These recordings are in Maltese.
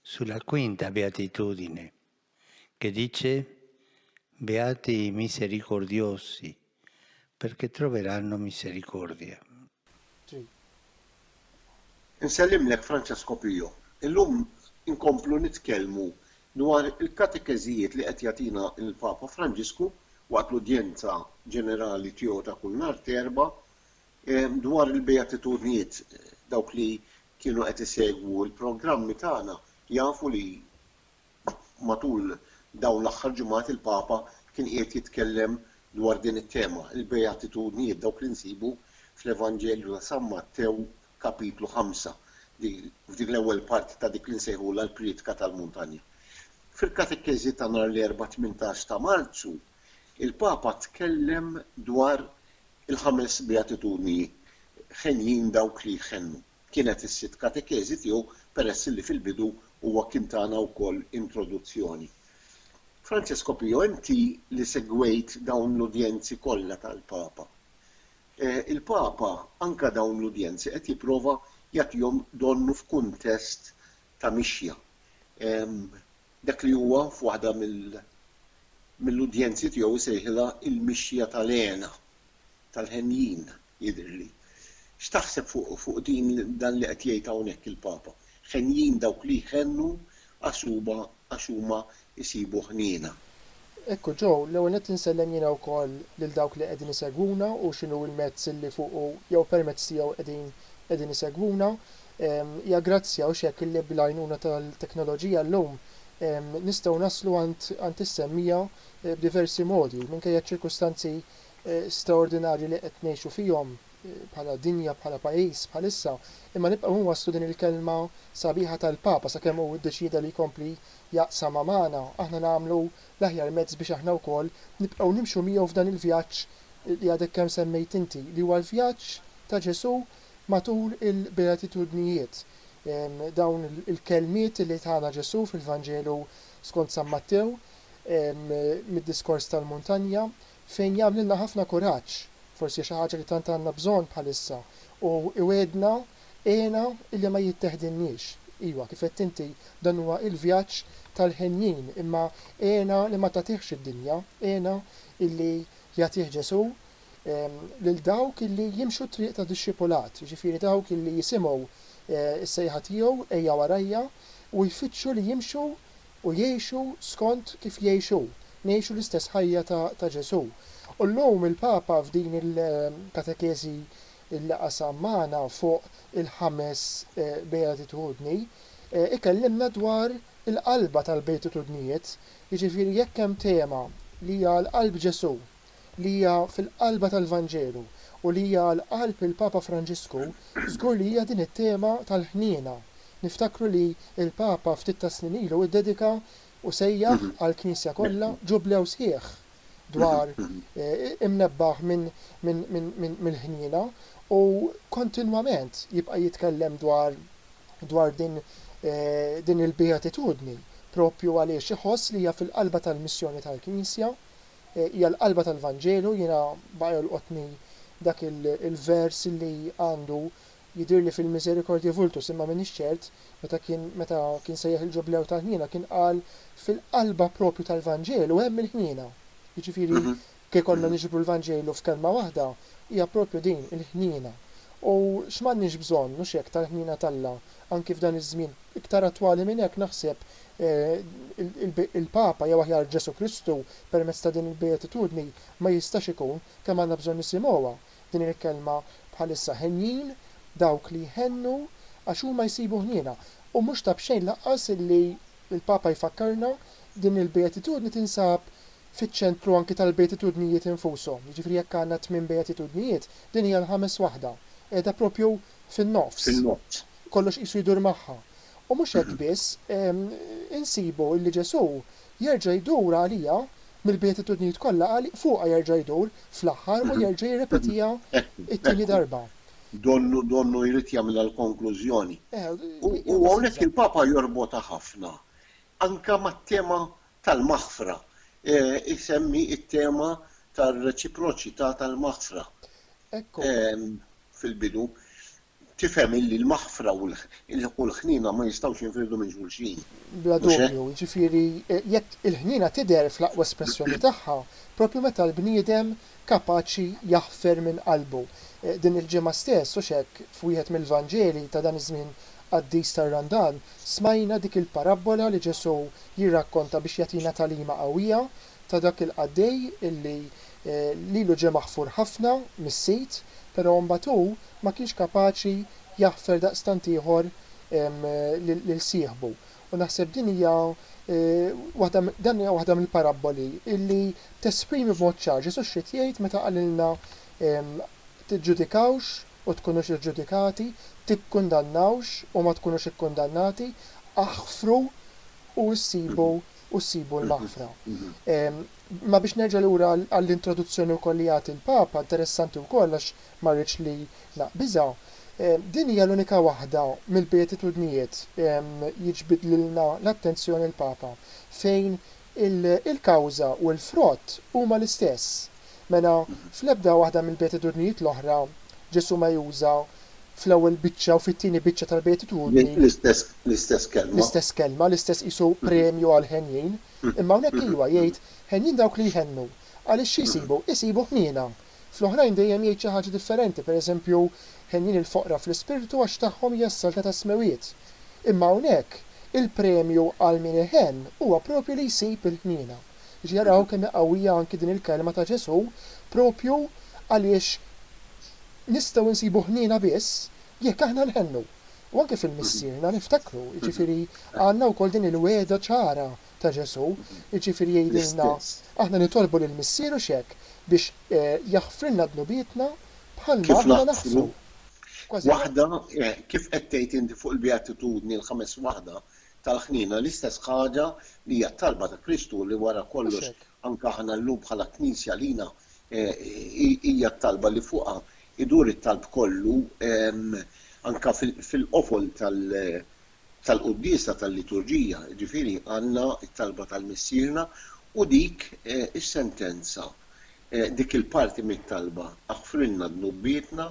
Sulla quinta beatitudine, che dice, Beati i misericordiosi, perché troveranno misericordia. Ġej. Insellimlek Francesco Pio. Illum inkomplu nitkellmu dwar il-katekeżijiet li qed jagħtina l-Papa Franġisku waqt l-udjenza ġenerali tiegħu ta' kull nhar t'Erbgħa dwar il-beatitudnijiet, dawk li kienu qed isegwu l-programmi tagħna jafu li matul dawn l-aħħar ġimgħat il-Papa kien qiegħed jitkellem dwar din it-tema, il-Beatitudnijiet, dawk li nsibu fl-Evanġelju ta' San Mattew kapitlu ħamsa, f'dik l-ewwel parti ta' dik li nsejħulha l-Prietka tal-Muntanja. Fil-Katekeżi ta' nhar l-Erbgħa tmintax ta' Marzu, il-Papa tkellem dwar il-ħames beatitudni ħenjin dawk li jħennu. Kienet is-sitt katekeżi tiegħu peress illi fil-bidu huwa kien tana wkoll introduzzjoni. Francesco Pio, inti li segwejt dawn l-udjenzi kollha tal-Papa, il-Papa anke dawn l-udjenzi qed jipprova jagħtihom donnu f'kuntest ta' mixja. Dak li huwa f'waħda mill-udjenzi tiegħu jsejħilha l-mixja tal-hena, tal-henjin, jidhirli. X'taħseb fuq din dan li qed jgħid hawnhekk il-Papa? Henjin dawk li jħennu għasuba għax huma jsibu ħniena. Ekku Joe, l-ewwel nett insellem jiena wkoll lil dawk li qegħdin isegwuna u x'inhu l-mezz li fuqu jew permezz tiegħu qegħdin qegħdin isegwuna. Hija grazzja u x'hekk li bl-għajnuna tal-teknoloġija llum nistgħu naslu għand għand is-semmija b'diversi modi minkejja ċ-ċirkustanzi straordinarji li qed ngħixu fihom. bħala dinja, bħala pajjiż bħalissa, imma nibqgħu inwasslu din il-kelma sabiħa tal-Papa sakemm hu ddeċieda li jkompli jaqsamha magħna, aħna nagħmlu l-aħjar mezz biex aħna wkoll nibqgħu nimxu miegħu f'dan il-vjaġġ li għadek kemm semmejt inti, li huwa l-vjaġġ ta' Ġesù matul il-Beatitudnijiet. Dawn il-kelmiet li tana Ġesù fil-Vanġelu skont San Mattew, mid-Diskors tal-Muntanja, fejn jagħmlilna ħafna kuraġġ, forsi xi ħaġa li tant għandna bżonn bħalissa, u iwegħedna, Għena illi ma jitteħdilniex. Iwa, kif għedt inti, dan huwa il-vjaġġ tal-henjin, imma għena li ma tagħtihx id-dinja, għena illi jagħtih Ġesù lil dawk illi jimxu t-triq ta' dixxipulat, jiġifieri dawk illi jisimgħu s-sejħa tiegħu, Ejja warajja, u jfittxu li jimxu u jgħixu skont kif jgħix hu, ngħixu l-istess ħajja ta' ta' Ġesù. U llum il-Papa f'din il-katekeżi li qasam magħna fuq il-ħames Beatitudni, ikellimna dwar il-qalba tal-Beatitudnijiet, jiġifieri jekk hemm tema li hija għal qalb Ġesù, li hija fil-qalba tal-Vanġelu u li hija għal qalb il-Papa Franġisku, żgur li hija din it-tema tal-ħniena. Niftakru li l-Papa ftit tas-snin ilu iddedika u sejjaħ għall-Knisja kollha Ġublew sħiħ dwar imnebbaħ mill-ħniena u kontinwament jibqa' jitkellem dwar dwar din din il-beatitudni propju għaliex iħoss li hija fil-qalba tal-missjoni tal-Knisja. hija l-qalba tal-Vanġelu. Jiena baqa' jolqotni dak il-vers li għandu, Jidhirli fil-misericordiae vultus, imma m'iniex ċert, meta kien meta kien sejjaħ il-Ġublew tal-Ħniena kien qal fil-qalba proprju tal-Vanġelu hemm il-ħniena. Jiġifieri jekk ikollna niġbru l-Vanġelu f'kelma waħda, hija proprju din, il-ħniena. U x'm'għandniex bżonn, mhux hekk, tal-ħniena t'Alla anki f'dan iż-żmien. Iktar attwali minn hekk naħseb Il-Papa, jew aħjar Ġesù Kristu, permezz ta' din il-Beatitudni ma jistax ikun, kemm għandna bżonn nisimgħuha din il-kelma bħalissa, henjin dawk li jħennu għax huma jsibu ħniena. U mhux ta' b'xejn lanqas li l-Papa jfakkarna din il-Beatitudni tinsab fiċ-ċentru anki tal-Beatitudnijiet infushom. Jiġifieri jekk għandna t-tmien Beatitudnijiet, din hija l-ħames waħda, qiegħda proprju fin-nofs. Kollox qisu jdur magħha. U mhux hekk biss, insibu li Ġesù jerġa' jdur għalija, mill-Beatitudnijiet kollha għal fuqha jerġa' jdur fl-aħħar u jerġa' jirrepetiha t-tieni darba. Donnu, donnu jrid jagħmilha l-konklużjoni. U hawnhekk il-Papa jorbotha ħafna anke mat-tema tal-maħfra, isemmi t-tema tar-reċiproċità tal-maħfra fil-bidu. Tifhem illi l-maħfra u l-ħniena ma jistgħux jinfirdu minn xulxin, mhux hekk? Bla dubju, jiġifieri jekk il-ħniena tidher fl-aqwa espressjoni tagħha proprju meta l-bniedem kapaċi jaħfer minn qalbu. Din il-ġimgħa stess, hux hekk, f'wieħed mill-Vanġeli ta' dan iż-żmien qaddis tar-Randan, smajna dik il-parabbola li Ġesù jirrakkonta biex jagħtina tagħlima qawwija, ta' dak il-qaddej illi lilu ġie maħfur ħafna mis-sit, pero' mbagħad hu ma kienx kapaċi jaħfer daqstant ieħor lil sieħbu. U naħseb din hija waħda dan hija waħda mill-parabboli illi tesprimi b'mod ċar Ġesù x'ried jgħid meta qalilna tiġġudikawx u tkunux iġġudikati, tikkundannawx u ma tkunux ikkundannati, aħfru u issibu u ssibu l-maħfra. Imma biex nerġa' lura għall-introduzzjoni wkoll li jagħti l-Papa, interessanti wkoll għax ma rridx li naqbiżha, din hija l-unika waħda mill-Beatitudnijiet, jiġbid lilna l-attenzjoni l-Papa, fejn il-kawża u l-frott huma l-istess. Mela, fl-ebda waħda mill-beatitudnijiet l-oħra, Ġesù ma juża fl-ewwel biċċa u fit-tieni biċċa tal-beatitudni, L-istess kelma. l-istess kelma, l-istess qisu premju għall-henjin, imma hawnhekk ejwa, jgħid, Henjin dawk li jħennu. Għaliex xi jsibu? Isibu ħniena. Fl-oħrajn dejjem jgħid xi ħaġa differenti, per eżempju, Henjin il-foqra fl-ispirtu għax tagħhom hija s-saltna tas-smewwiet. Imma hawnhekk, il-premju għal min iħenn huwa proprju li jsib il-ħniena. Jiġifieri araw kemm hi qawwija anki din il-kelma ta' Ġesù proprju għaliex nistgħu nsibu ħniena biss jekk aħna nħennu. U anke fil-Missierna niftakru, jiġifieri għandna wkoll din il-wegħda ċara ta' Ġesù, jiġifieri jgħidilna aħna nitolbu lill-Missieru x'hekk, biex jaħfrilna dnubietna bħalma aħna naħfru. Kważi. Waħda, kif qed tgħid inti fuq il-Beatitudni l-ħames waħda, tal-ħniena, l-istess ħaġa li hija t-talba ta' Kristu li wara kollox anke aħna llum bħala Knisja għalina hija t-talba li fuqha jdur it-talb kollu anke fil-qofol tal-quddiesa tal-liturġija, jiġifieri għandna t-talba tal-Missierna u dik is-sentenza, dik il-parti mit-talba, aħfrilna dnubietna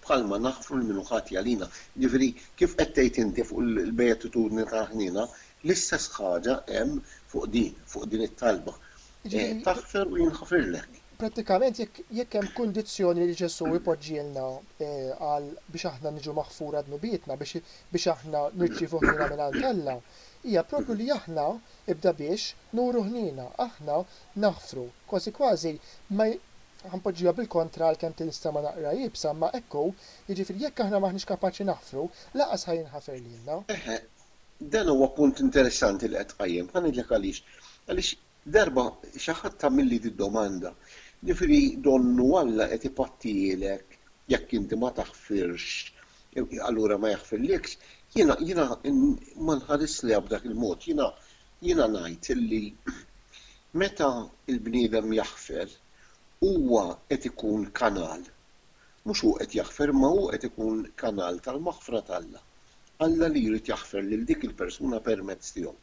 bħalma naħfru lil min hu ħati għalina. Jiġifieri, kif qed tgħid inti fuq il-beatitudni tal-ħniena, l-istess ħaġa hemm fuq din, fuq din it-talba. Taħfer u jinħafirlek. Prattikament jekk jekk hemm kundizzjoni li Ġesù jpoġġielna għal biex aħna niġu maħfura dnubietna, biex biex aħna nirċievu ħniena mingħand Alla, hija proprju li aħna, ibda biex, nuru ħniena, aħna naħfru. Kważi kważi ma Ħa npoġġiha bil-kontra għalkemm tinstema' naqra iebsa imma hekk hu, jiġifieri jekk aħna m'aħniex kapaċi naħfru, lanqas ħa jinħafer lilna. Eħe, dan huwa punt interessanti li qed tqajjem. Ħa ngħidlek għaliex. Għaliex darba xi ħadd għamilli d-domanda, jiġifieri donnu Alla qed ipattihielek jekk inti ma taħfirx allura ma jaħfirliekx? Jiena jiena ma nħarisliha b'dak il-mod. Jiena jiena ngħid illi meta l-bniedem jaħfer huwa qed ikun kanal, mhux hu qed jaħfer imma hu qed ikun kanal tal-maħfra t'Alla. Alla li jrid jaħfer lil dik il-persuna permezz tiegħu.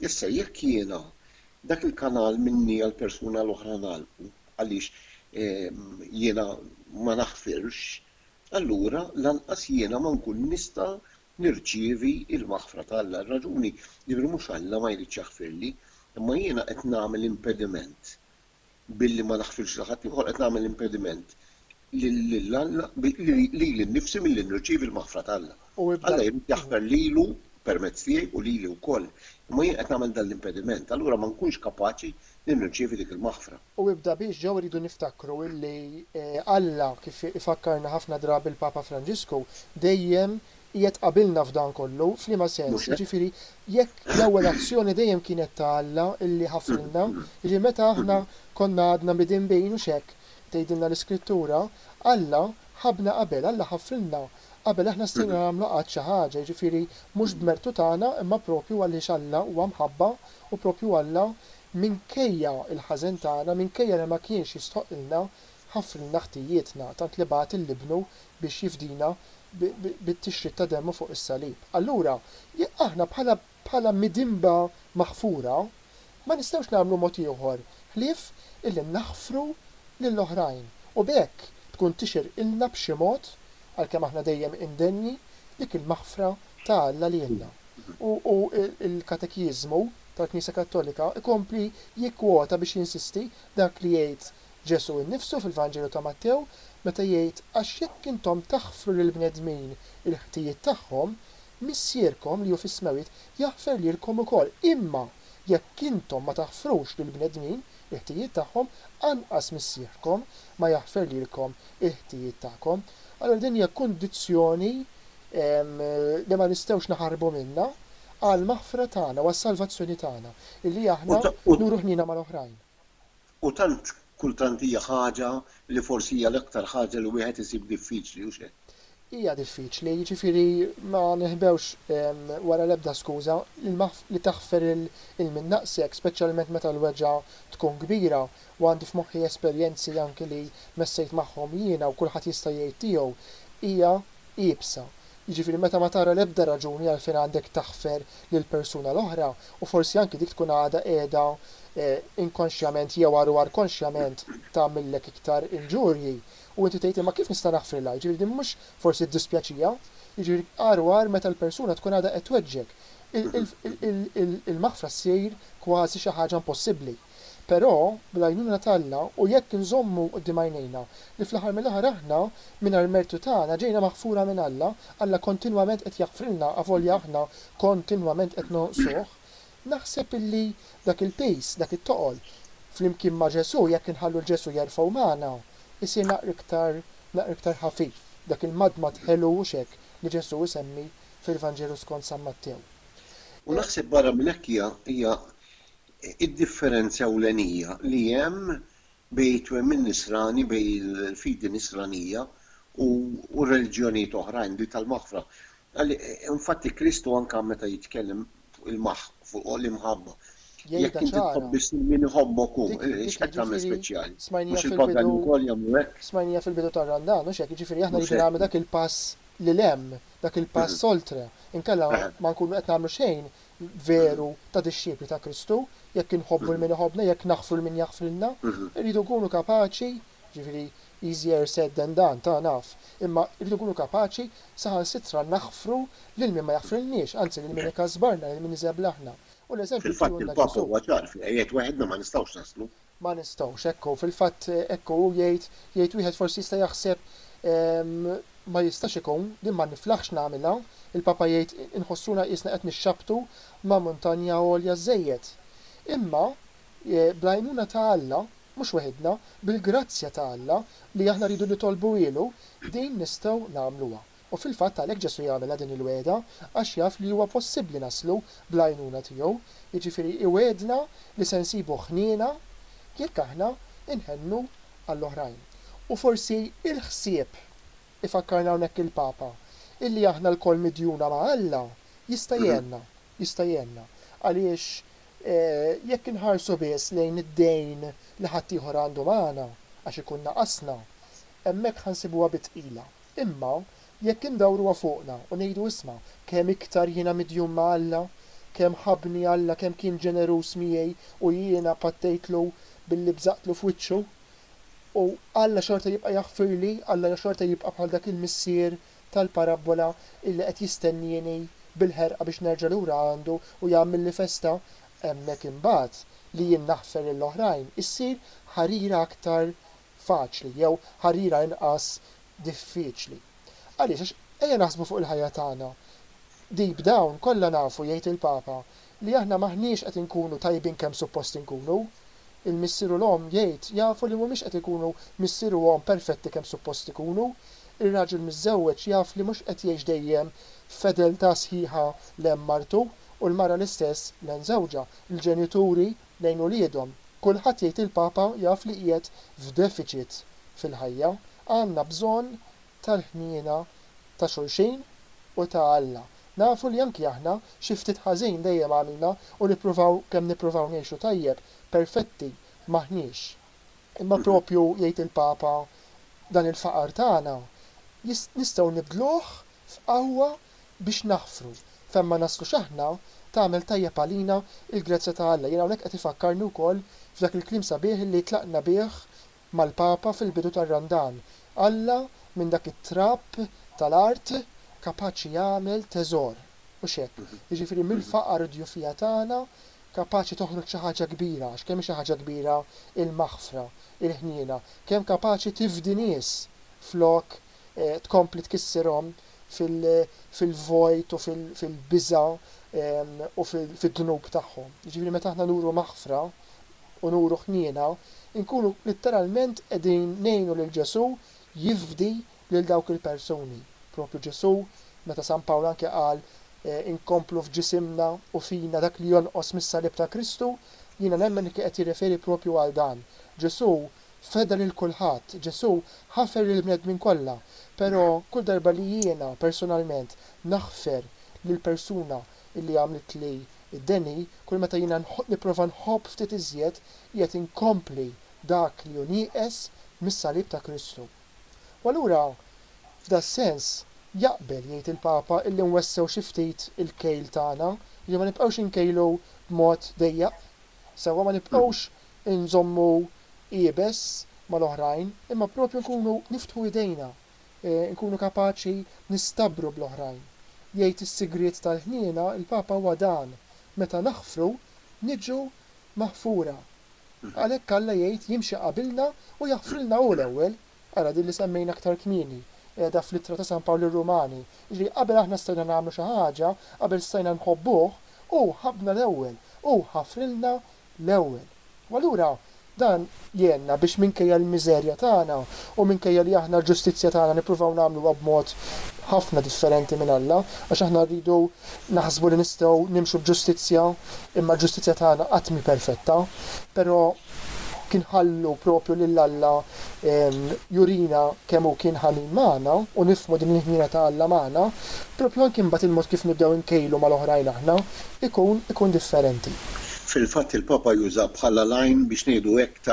Issa jekk jiena dak il-kanal minni għall-persuna l-oħra ngħalqu għaliex jiena ma naħfirx, allura lanqas jiena ma nkun nista' nirċievi l-maħfra ta' Alla. Ir-raġuni, jiġifieri mhux Alla ma jridx jaħfirli, imma jiena qed nagħmel impediment billi ma naħfirx lil ħadd ieħor, qed nagħmel impediment lil Alla, lili nnifsi milli nirċievi l-maħfra ta' Alla. Alla jrid jaħfer lilu permezz tiegħi u lili wkoll, imma jien qed nagħmel dan l-impediment, allura ma nkunx kapaċi li nirċievi dik il-maħfra. U ibda biex ġew irridu niftakru li Alla, kif ifakkarna ħafna drabi l-Papa Franġisku, dejjem qiegħed qabilna f'dan kollu. F'liema sens? Jiġifieri jekk l-ewwel azzjoni dejjem kienet ta' Alla li ħafrilna, jiġifieri meta aħna konna għadna midinbin, hux hekk tgħidilna l-Iskrittura, Alla ħabbna qabel, Alla ħafrilna qabel aħna stajna nagħmlu qatt xi ħaġa, jiġifieri mhux b'mertu tagħna imma proprju għaliex Alla huwa mħabba u proprju Alla Minkejja l-ħażen tagħna, minkejja li ma kienx jistħoqqilna, ħafrilna ħtijietna, tant li bagħat lil Ibnu biex jifdina bit-tixrid ta' demmu fuq is-salib. Allura, jekk aħna bħala bħala midinba maħfura, ma nistgħux nagħmlu mod ieħor ħlief illi naħfru lil oħrajn u b'hekk tkun tixirqilna b'xi mod, għalkemm aħna dejjem indenji, dik il-maħfra ta' Alla lilna. U l-katekiżmu tal-Knisja Kattolika jkompli jikkwota biex jinsisti dak li jgħid Ġesù nnifsu fil-Vanġelu ta' Mattew meta jgħid għax jekk intom taħfru lill-bnedmin il-ħtijiet tagħhom, Missierkom li hu fis-smewwiet jaħfer lilkom ukoll, imma jekk intom ma taħfrux lill-bnedmin il-ħtijiet tagħhom, anqas Missierkom ma jaħfer lilkom il-ħtijiet tagħkom. Allura din hija kundizzjoni li ma nistgħux naħarbu minnha. għall-maħfra tagħna u għas-salvazzjoni tagħna, illi aħna nuru ħniena mal-oħrajn. U tant kultant hija ħaġa li forsi hija l-aktar ħaġa li wieħed isib diffiċli, hux hekk? Hija diffiċli, jiġifieri ma nihbewx wara l-ebda skuża, li taħfer lil min naqsek, speċjalment meta l-weġgħa tkun kbira, u għandi f'moħħi esperjenzi anki li messejt magħhom jiena u kulħadd jista' jgħid tiegħu, hija iebsa, jiġifieri meta ma tara l-ebda raġuni għalfejn għandek taħfer lill-persuna l-oħra u forsi anki dik tkun għadha qiegħda inkonxjament jew għar u għar konxjament tagħmillek iktar inġurji u inti tgħid imma kif nista' naħfrilha, jiġifieri din mhux forsi ddispjaċiha, jiġifieri għar u għar meta l-persuna tkun għadha qed tweġġgħek, il-maħfra ssir kważi xi ħaġa impossibbli. Però, bl-għajnuna t'Alla u jekk inżommu quddiem għajnejna li fl-aħħar mill-aħħar aħna, mingħajr mertu tagħna, ġejna maħfura minn Alla, Alla kontinwament qed jaħfrilna avolja aħna kontinwament qed nonqsuh, naħseb illi dak il-piż, dak it-toqol, flimkien ma' Ġesù, jekk inħallu 'l Ġesù jerfgħu magħna, isir naqra iktar, naqra iktar ħafif, dak il-madmad ħelu, hux hekk li Ġesù isemmi fil-Vanġelu skont San Mattew? U naħseb barra minn hekk hija, hija, Id-differenzi ewlenija li hemm bejn it-twemmin nisrani, bejn il-fidi nisranija u r-reliġjonijiet oħrajn, dik tal-maħfra. Infatti Kristu anke meta jitkellem fuq l-imħabba, jekk inti tħobb biss lil min iħobbok hu, x'qed tagħmel speċjali? Mhux il-pagani wkoll jagħmlu hekk? Smajnija fil-bidu tar-Randan, mhux hekk? Jiġifieri aħna rridu nagħmlu dak il-pass lil hemm, dak il-pass oltre. Inkella ma nkunu qed nagħmlu xejn, veru ta' dixxipli ta' Kristu, jekk inħobbu lil min iħobbna, jekk naħfru lil min jaħfrilna. Irridu nkunu kapaċi, jiġifieri easier said than done, ta' naf, imma rridu nkunu kapaċi saħansitra naħfru lil min ma jaħfrilniex, anzi lil min ikasbarna, lil min iżeblahna. U l-eżempju tiegħu għandna Ġesù. Fil-fatt il-Papa huwa ċar fiha, jgħid weħidna ma nistgħux naslu. Ma nistgħux, hekk hu, fil-fatt hekk hu, jgħid, jgħid wieħed forsi jista' jaħseb, ma jistax ikun, din ma niflaħx nagħmilha, il-Papa jgħid inħossuna qiesna qed nixxabbtu ma' muntanja għolja żżejjed. Imma bl-għajnuna ta' Alla, mhux weħidna, bil-grazzja ta' Alla li aħna rridu nitolbuhielu, din nistgħu nagħmluha. U fil-fatt għalhekk Ġesù jagħmilha din il-wegħda għax jaf li huwa possibbli naslu bl-għajnuna tiegħu, jiġifieri iwegħedna li se nsibu ħniena jekk aħna nħennu għall-oħrajn. U forsi l-ħsieb, ifakkarna hawnhekk il-Papa, illi aħna lkoll midjuna ma' Alla jista' jgħinna, jista' jgħinna. Għaliex jekk inħarsu biss lejn id-dejn li ħaddieħor għandu magħna għax ikun naqasna, hemmhekk ħa nsibuha bi tqila. Imma, jekk indawruha fuqna u ngħidu isma', kemm iktar jiena midjun ma' Alla, kemm ħabbni Alla, kemm kien ġeneruż miegħi u jiena pattejtlu billi bżaqtlu f'wiċċu, u Alla xorta jibqa' jaħfirli, Alla xorta jibqa' bħal dak il-missier tal-parabbola illi qed jistennieni bil-ħerqa biex nerġa' lura għandu u jagħmilli festa, hemmhekk imbagħad, li jien naħfer lill-oħrajn, issir ħarira aktar faċli jew ħarira inqas diffiċli. Għaliex? Għax ejja naħsbu fuq il-ħajja tagħna. Deep down kollha nafu, jgħid il-Papa, li aħna m'aħniex qed inkunu tajbin kemm suppost inkunu. Il-missier u l-omm, jgħid, jafu li mhumiex qed ikunu missier u omm perfetti kemm suppost ikunu. Ir-raġel miżżewweġ jaf li mhux qed jgħix dejjem f'fedeltà sħiħa lejn martu, u l-mara l-istess lejn żewġha. Il-ġenituri lejn uliedhom. Kulħadd jgħid il-Papa jaf li qiegħed f'defiċit fil-ħajja. Għandna bżonn tal-ħniena ta' xulxin u ta' Alla. Nafu li anki aħna xi ftit ħażin dejjem għamilna u nippruvaw kemm nippruvaw ngħixu tajjeb, perfetti m'aħniex. Imma proprju jgħid il-Papa dan il-faqar tagħna nistgħu nibdluh f'qawwa biex naħfru fejn ma naslux aħna, tagħmel tajjeb għalina il-grazzja ta' Alla. Jien hawnhekk qed ifakkarni wkoll f'dak il-kliem sabiħ li tlaqna bih mal-Papa fil-bidu tar-Randan, Alla minn dak it-trab tal-art kapaċi jagħmel teżor, hux hekk? Jiġifieri mill-faqar u d-djufija tagħna kapaċi toħroġ xi ħaġa kbira, għax kemm hi xi ħaġa kbira l-maħfra, il-ħniena, kemm kapaċi tifdi nies flok tkompli tkissirhom fil-vojt u fil-biża' u fid-dnub tagħhom. Jiġifieri meta aħna nuru maħfra u nuru ħniena, inkunu litteralment qegħdin ngħinu lil Ġesù jifdi lil dawk il-persuni. Proprju Ġesù, meta San Pawl anke qal, Inkomplu f'ġisimna u fina dak li jonqos mis-salib ta' Kristu, jiena nemmen li kien qed jirreferi proprju għal dan. Ġesù Feda lil kulħadd, Ġesù ħafer lill-bnedmin kollha, però kull darba li jiena personalment naħfer lill-persuna li għamlitli d-deni, kull meta jiena nipprova nħobb ftit iżjed, qiegħed inkompli dak li hu nieqes mis-salib ta' Kristu. U allura, f'das-sens, jaqbel, jgħid il-Papa, illi nwessew xi ftit il-kejl tagħna, jiġifieri ma nibqgħux inkejlu b'mod dejjaq. Sewwa, ma nibqgħux inżommu iebes mal-oħrajn, imma proprju nkunu niftħu idejna, nkunu kapaċi nistabbru bl-oħrajn. Jgħid is-sigriet tal-ħniena l-Papa huwa dan, meta naħfru, niġu maħfura. Għalhekk Alla jgħid jimxi qabilna u jaħfrilna hu l-ewwel. Ara din li semmejna aktar kmieni, qiegħda fl-Ittra ta' San Pawl lir-Rumani, jiġifieri qabel aħna stajna nagħmlu xi ħaġa, qabel stajna nħobbuh, hu ħabbna l-ewwel, hu ħafrilna l-ewwel. U allura dan jgħinna biex minkejja l-miżerja tagħna u minkejja li aħna l-ġustizzja tagħna nippruvaw nagħmluha b'mod ħafna differenti minn Alla, għax aħna rridu naħsbu li nistgħu nimxu b'ġustizzja, imma l-ġustizzja tagħna qatt mhi perfetta, però kien ħallu proprju lil Alla jurina kemm hu kien ħanin magħna u nifhmu din il-ħniena ta' Alla magħna, proprju anki mbagħad il-mod kif nibdew inkejlu mal-oħrajn aħna. ikun ikun differenti. Fil-fatt il-Papa juża bħala l-għajn biex ngħidu hekk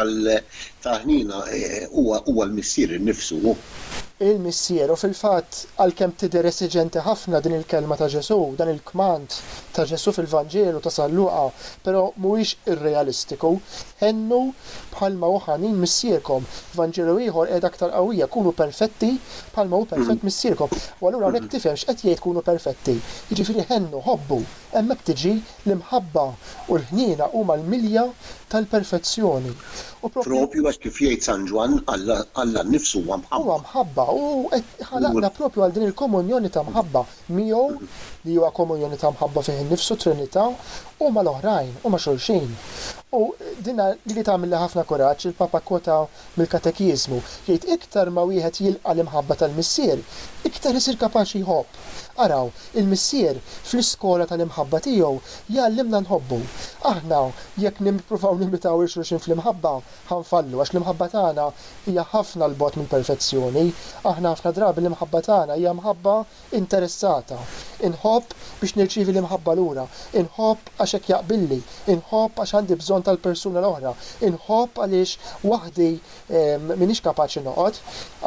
ta' ħniena huwa huwa l-Missier innifsu hu. Il-Missier, u fil-fatt għalkemm tidher esiġenti ħafna din il-kelma ta' Ġesù, dan il-kmand ta' Ġesù fil-Vanġelu ta' San Luqa, però mhuwiex irrealistiku. Għennu bħalma hu ħanin Missierkom. F'Vanġelu ieħor qiegħda aktar qawwija, Kunu perfetti bħalma hu perfett Missierkom. U allura hawnhekk tifhem x'qed jgħid kunu perfetti. Jiġifieri għennu, ħobbu. Hemmhekk tiġi l-imħabba u l-ħniena huma l-milja tal-perfezzjoni. U propju. Propju hekk kif jgħid San Ġwann, Alla nnifsu huwa mħabba. Huwa mħabba u hu qed ħalaqna propju għal din il-komunjoni ta' mħabba. miegħu, li huwa komunjoni ta' mħabba fih innifsu, t-Trinità, u mal-oħrajn, u ma' xulxin. U din li li tagħmilli ħafna kuraġġ, il-Papa kkwota mill-Katekiżmu, jgħid, Iktar ma wieħed jilqa' l-imħabba tal-Missier, iktar isir kapaċi jħobb. Araw, il-Missier, fl-iskola tal-imħabba tiegħu, jgħallimna nħobbu. Aħna, jekk nippruvaw nimitaw 'il xulxin fl-imħabba, Ħa nfallu, għax l-imħabba tagħna hija ħafna 'l bogħod mill-perfezzjoni. Aħna ħafna drabi l-imħabba tagħna hija mħabba interessata. Inħobb biex nirċievi l-imħabba lura. Inħobb għax hekk jaqbilli. Inħobb għax għandi bżonn tal-persuna l-oħra. Inħobb għaliex waħdi m'iniex kapaċi noqgħod.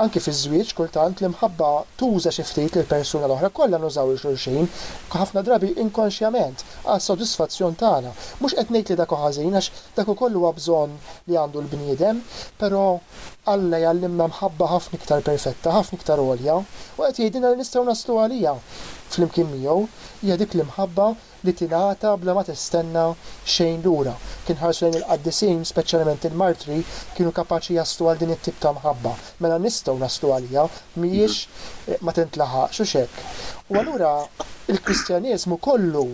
Anki fiż-żwieġ, kultant, l-imħabba tuża xi ftit lill-persuna l-oħra. Kollha nużaw 'il xulxin, ħafna drabi inkonxjament, għas-sodisfazzjon tagħna. Mhux qed ngħid li dak hu ħażin, għax Dak ukoll huwa bżonn li għandu l-bniedem, però Alla jgħallimna mħabba ħafna iktar perfetta, ħafna iktar għolja, u qed jgħidilna li nistgħu naslu għaliha flimkien miegħu. Hija dik l-imħabba li tingħata bla ma tistenna xejn lura. Jekk inħarsu lejn il-qaddisin, speċjalment il-martri, kienu kapaċi jaslu għal din it-tip ta' mħabba. mela nistgħu naslu għaliha, mhijiex ma tintlaħaqx, hux hekk? U allura l-Kristjaneżmu kollu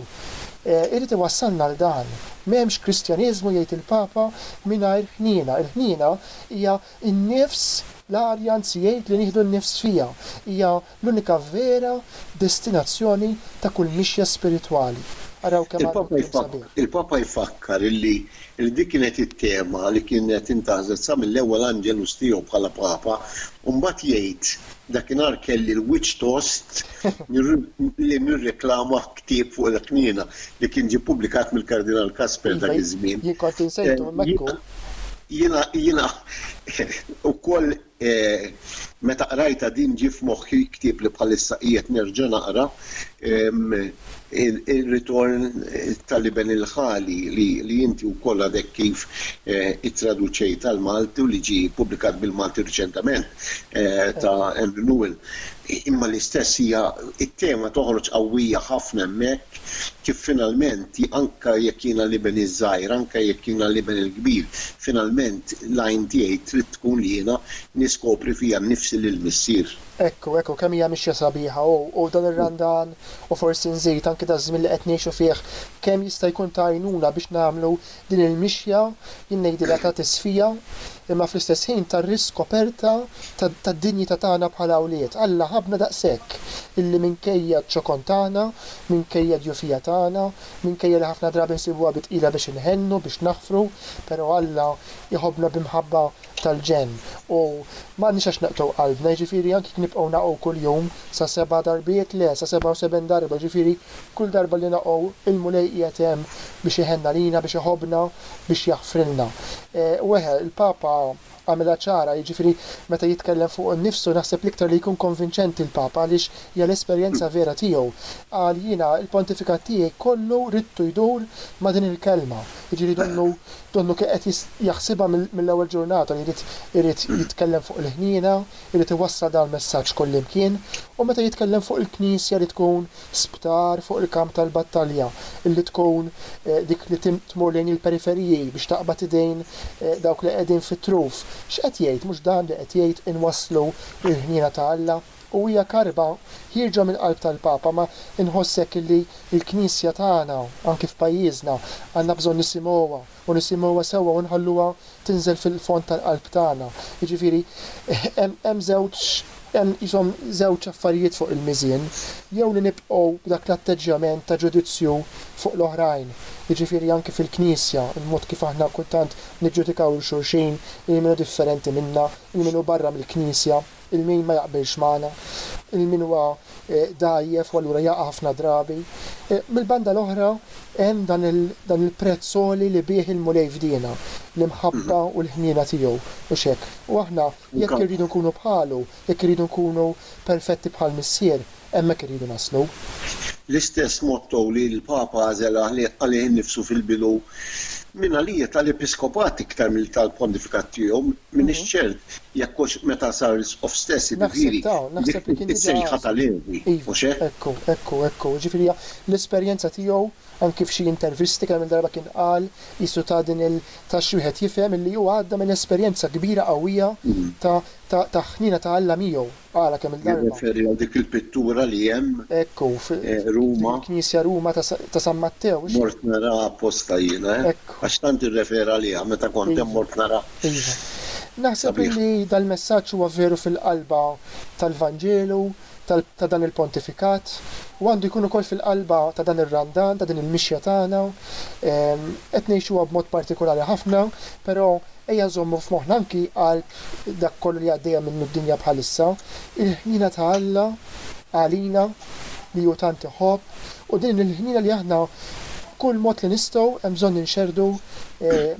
jrid iwassalna għal dan. M'hemmx Kristjaneżmu, jgħid il-Papa, mingħajr ħniena. Il-ħniena hija n-nifs, l-arja, anzi jgħid li nieħdu n-nifs fiha. Hija l-unika vera destinazzjoni ta' kull mixja spiritwali. Araw kemm għadna qudiem sabiħ. Il-Papa jfakkar li dik kienet it-tema li kienet intażlet sa mill-ewwel Angelus tiegħu bħala Papa u mbagħad jgħid, Dakinhar kelli l-wiċċ tost li nirreklama ktieb fuq il-Qniena li kien ġie ppubblikat mill-Kardinal Kasper dak iż-żmien. Iva, jien kont insejtu hemmhekk u. Jiena ukoll Meta qrajtha din ġie f'moħħi ktieb li bħalissa qiegħed nerġa' naqra, Ir-Ritorn tal-Iben il-Ħali li inti wkoll għadek kif ittraduċejt għall-Malti u li ġie ppubblikat bil-Malti riċentament ta' Andrew Newell. Imma l-istess hija t-tema toħroġ qawwija ħafna hemmhekk kif finalment, anke jekk jiena l-iben iż-żgħir, anke jekk jiena l-iben il-kbir, finalment l-għajn tiegħi trid tkun jiena niskopri fija nnifsi lill-Missier. Hekk hu, hekk hu, kemm hija mixja sabiħa! U, u dan ir-Randan, u forsi nżid, anke daż-żmien li qed ngħixu fih, kemm jista' jkun ta' għajnuna biex nagħmlu Din il-mixja jien ngħidilha ta' tisfija imma fl-istess ħin ta' riskoperta tad-dinjità tagħna bħala wlied. Alla ħabbna daqshekk illi minkejja ċ-ċokon tagħna, minkejja d-djufija tagħna, minkejja li ħafna drabi nsibuha bi tqila biex inħennu, biex naħfru, però Alla jħobbna b'imħabba tal-ġenn u m'għandniex għax naqtgħu qalbna, jiġifieri anki jekk nibqgħu naqgħu kuljum sa seba' darbiet, le, sa sebgħa u seben darba, jiġifieri kull darba li naqgħu il-Mulej qiegħed hemm biex iħenn għalina, biex iħobbna, biex jaħfrilna. U eħe, il-Papa għamilha ċara, jiġifieri meta jitkellem fuq innifsu naħseb l-iktar li jkun konvinċenti l-Papa għaliex hija l-esperjenza vera tiegħu. Qal, jiena l-pontifikat tiegħi kollu ridtu jdur ma' din il-kelma, jiġifieri donnu Donnu kien qed jaħsibha mill-ewwel ġurnata li jrid irid jitkellem fuq il-ħniena, irid iwassal dan il-messaġġ kullimkien, u meta jitkellem fuq il-Knisja li tkun sptar fuq il-kamp tal-battalja, li tkun dik li tmur lejn il-periferiji biex taqbad idejn dawk li qegħdin fit-truf, x'qed jgħid? Mhux dan li qed jgħid inwasslu l-ħniena ta' Alla? u hija karba ħierġa mill-qalb tal-Papa ma inħoss hekk illi l-Knisja tagħna anki f'pajjiżna għandna bżonn nisimgħuha u nisimgħuha sewwa u nħalluha tinżel fil-fond tal-qalb tagħna. Jiġifieri hemm hemm żewġ hemm qishom żewġ affarijiet fuq il-miżien, jew li nibqgħu b'dak l-atteġġjament ta' ġudizzju fuq l-oħrajn, jiġifieri anki fil-Knisja, il-mod kif aħna kultant niġġudikaw lil xulxin, lil min hu differenti minna, lil min hu barra mill-Knisja. il min ma jaqbilx magħna, il min huwa dgħajjef u allura jaqa' ħafna drabi. Mill-banda l-oħra hemm dan il-prezz għoli li bih il-Mulej fdiena, l-imħabba u l-ħniena tiegħu, hux hekk? U aħna jekk irridu nkunu bħalu, jekk irridu nkunu perfetti bħall-Missier, Hemmhekk irridu naslu. L-istess motto li l-Papa għażel għalih innifsu fil-bidu, minn għalija tal-episkopat iktar milli tal-pontifikat tiegħu, m'iniex ċert jekk hux meta sar Isqof stess, jiġifieri dik is-sejħa ta' Levi, mhux hekk? Ekku, ekku, ekku. Jiġifieri hija l-esperjenza tiegħu, anki f'xi intervisti kemm-il darba kien qal, qisu ta din il, ta xi wieħed jifhem illi hu għadda minn esperjenza kbira qawwija ta' ta' ta' ħniena ta' Alla miegħu. Ara kemm il-darba. Jirreferi għal dik il-pittura li hemm. Hekk hu, fil-knisja Ruma ta' San Mattew. Mort naraha apposta jiena, għax tant irrefera għaliha meta kont hemm mort naraha. Iva. Naħseb li dal-messaġġ huwa veru fil-qalba tal-Vanġelu ta' dan il-Pontifikat, u għandu jkun ukoll fil-qalba ta' dan ir-Randan, ta' din il-mixja tagħna. Qed ngħixuha b'mod partikolari ħafna, però Ejja nżommu f'moħħna anki għal dak kollu li għaddejja minnu d-dinja bħalissa, il-ħniena ta' Alla għalina li hu tant iħobb u din il-ħniena li aħna b'kull mod li nistgħu hemm bżonn inxerrdu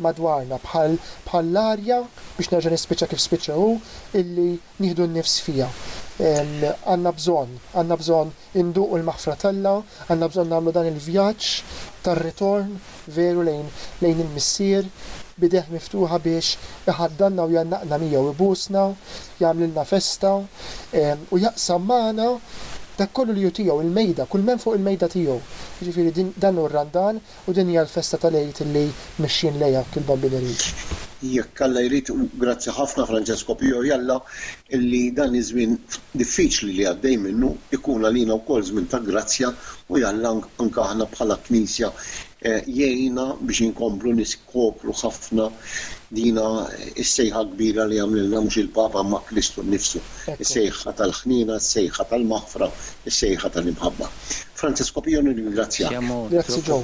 madwarna bħall-arja, biex nerġa' nispiċċa kif spiċċa hu, illi nieħdu n-nifs fiha. Għandna bżonn, għandna bżonn induqu l-maħfra t'Alla, għandna bżonn nagħmlu dan il-vjaġġ tar-ritorn veru lejn lejn il-Missier b'idejh miftuħa biex iħaddanna u jgħannaqna miegħu, ibusna, jagħmlilna festa, u jaqsam magħna dak kollu li hu tiegħu, il-mejda, kull m'hemm fuq il-mejda tiegħu. Jiġifieri din dan hu r-Randan U din hija l-festa tal-Għid illi mexjin lejha il-Bambin Irid. Jekk Alla jrid, u grazzi ħafna Francesco Pio y Alla illi dan iż-żmien diffiċli li għaddej minnu jkun għalina wkoll żmien ta' grazzja u y Alla anke aħna bħala Knisja jgħinna biex inkomplu niskopru ħafna dina s-sejħa kbira li għamlilna mhux il-Papa imma Kristu nnifsu. is-sejħa tal-ħniena, is-sejħa tal-maħfra, is-sejħa tal-imħabba. Francesco Pio nirringrazzjak. Grazzi Joe.